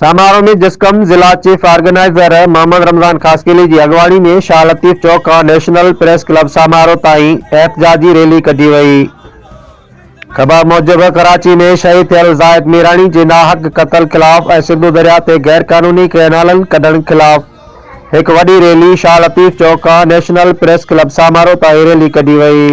سماروهه ۾ جسقم ضلع chief organizer Muhammad Ramzan Khaskheli جي اڳواڻي ۾ شاهه لطيف چوڪ کان نيشنل پريس ڪلب سماروهه تائين احتجاجي ريلي ڪڍي وئي. خبر موجب ڪراچي ۾ شهيد ٿيل زاهد ميراڻي جي ناحق قتل خلاف ۽ سنڌو درياهه تي غيرقانوني ڪئنالن ڪڍڻ خلاف هڪ وڏي ريلي شاهه لطيف چوڪ کان نيشنل پريس ڪلب سماروهه تائين ريلي ڪڍي وئي.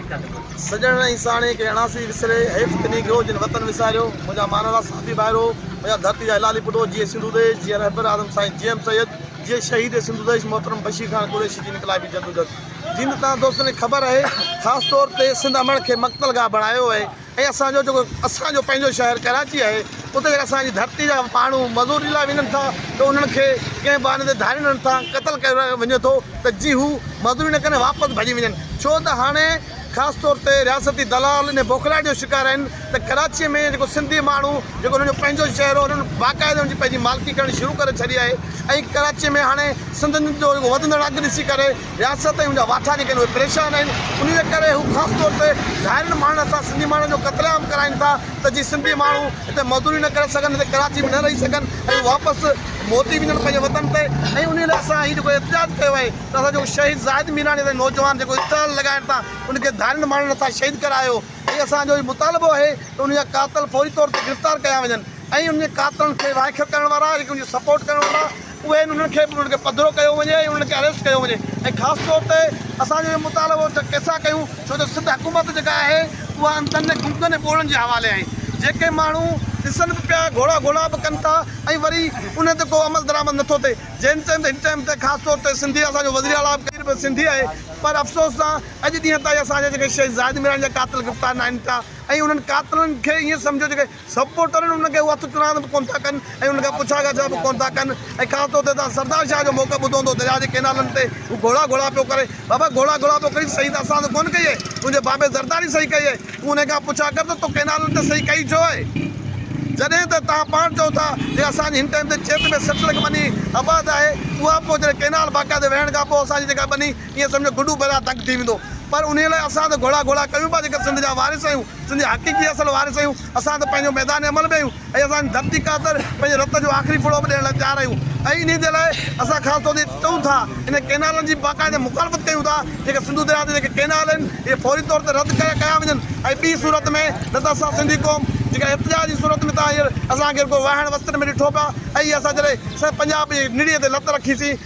سڄڻ ۽ ساڻيهه کي اڻاسي وسري، حيف ته نيگرو جن وطن وساريو، منهنجا مانالا ساٿي ڀائرو، منهنجا ڌرتي جا حلالي پٽو، جيئي سنڌو ديش، جيئي رهبر اعظم سائين جي ايم سيد، جيئي شهيد سنڌو ديش محترم بشير خان قريشي جي انقلابي جدوجھد جي ته توهان دوستن کي خبر آهي خاص طور تي سنڌ امڙ کي مقتل گاهه بڻايو آهي ۽ اسان جو جيڪو اسان جو پنهنجو شهر ڪراچي آهي اتي جيڪا اسان جي ڌرتي جا ماڻهو مزوري لاء وڃن ٿا ته انهن کي ڪنهن بهاني تي ڌارين هڻن ٿا قتل ڪيو وڃي ٿو ته جي هو مزوري نه ڪن ۽ واپس ڀڄي وڃن ڇو ته هاڻي خاص طور تي رياستي دلال انهي بوکلاهٽ جو شڪار آهن ته ڪراچي ۾ جيڪو سنڌي ماڻهو جيڪو انهن جو پنهنجو شهر هو انهن باقاعده ان جي پنهنجي مالڪي ڪرڻ شروع ڪري ڇڏي آهي ۽ ڪراچي ۾ هاڻي سنڌين جو جيڪو وڌندڙ اگهه ڏسي ڪري رياست ۽ ان جا واٺا جيڪي آهن اهي پريشان آهن انهي جي ڪري هو خاص طور تي ڌارين ماڻهن سان سنڌي ماڻهن جو قتل عام ڪرائين ٿا ته جي سنڌي ماڻهو هتي مزدوري نه ڪري سگهن هتي ڪراچي ۾ نه رهي سگهن ۽ واپس موٽي وڃن پنهنجي وطن تي ۽ انهي لاء اسان هي جيڪو احتجاج ڪيو آهي ته اسان جيڪو شهيد زاهد ميراڻي اسان جي نوجوان جيڪو اسٽال لڳائڻ تان ان کي ڌارين ماڻهن اسان شهيد ڪرايو ۽ اسان جو هي مطالبو آهي ته ان جا قاتل فوري طور تي گرفتار ڪيا وڃن ۽ انهن قاتلن کي واءکيو ڪرڻ وارا جيڪي ان جي سپورٽ ڪرڻ وارا اهي آهن انهن کي به انهن کي پڌرو ڪيو وڃي ۽ انهن کي اريسٽ ڪيو وڃي ۽ خاص طور تي اسان جو اهو مطالبو ته ڪيسا ڪيون ڇو جو سنڌ حڪومت جيڪا آهي اها انڌن ۽ گنگن ۽ ٻوڙن جي حوالي آهي جيڪي ماڻهو ڏسن به پيا گهوڙا گهوڙا به ڪن ٿا ۽ وري انهن تي ڪو عمل درآمد نٿو ٿئي جنهن ٽائيم هن ٽائيم تي خاص طور تي سنڌي اسان جو وزير اعليٰ پير به سنڌي آهي پر افسوس سان اڄ ڏينهن تائين اسان جا جيڪي شهيد زاهد ميراڻي جا قاتل گرفتار ناهن ٿيا ۽ انهن قاتلن کي ائين سمجهو جيڪي سپورٽرن ان کي اهو اعتراض به ڪونه ٿا ڪن ۽ ان کان پڇا ڳاڇا به ڪونه ٿا ڪن ۽ خاص طور تي تان سردار شاهه جو موقف ٻڌو هوندو درياء جي ڪينالن تي هو گهوڙا گهوڙا پيو ڪري بابا گهوڙا گهوڙا پيو ڪرين صحيح ته اسان سان ڪونه ڪئي اهي تنهنجي بابي زرداري صحيح ڪئي اهي تون انهي کان پڇا ڪر ته تو ڪينالن تي صحيح ڪئي ڇو اهي جڏهن ته تان پاڻ چئو ٿا جي اسان جي هن ٽائيم تي چيٽ ۾ سٺ لک ٻني آباد آهي اها پوء جڏهن ڪينال باقاعدي وهڻ کان پوء اسان جي جيڪا ٻني ايئن سمجهو گڊو بلا دگ ٿي ويندو پر انهي لاء اسان ته گهوڙا گهوڙا ڪيون پيا جيڪي سنڌ جا وارث آهيون. سنڌ جا حقيقي اصل وارث آهيون، اسان ته پنهنجو ميدان عمل به آهيون ۽ اسان جي ڌرتي خاطر پنهنجي رت جو آخري ڦڙو به ڏيڻ لاء تيار آهيون ۽ انهي جي لاء اسان خاص طور تي چئون ٿا انهن ڪئنالن جي باقاعده مخالفت ڪيون ٿا جيڪي سنڌو درياء تي جيڪي ڪئنال آهن اهي فوري طور تي رد ڪيا وڃن ۽ ٻي صورت ۾ نه ته اسان سنڌي قوم جيڪا ارتجاع جي صورت ۾ ته هينئر اسان کي رڳو واهڻ وستن ۾ ڏٺو پيو ۽ اسان جڏهن سڄي پنجاب جي نڙيء تي لت رکيسين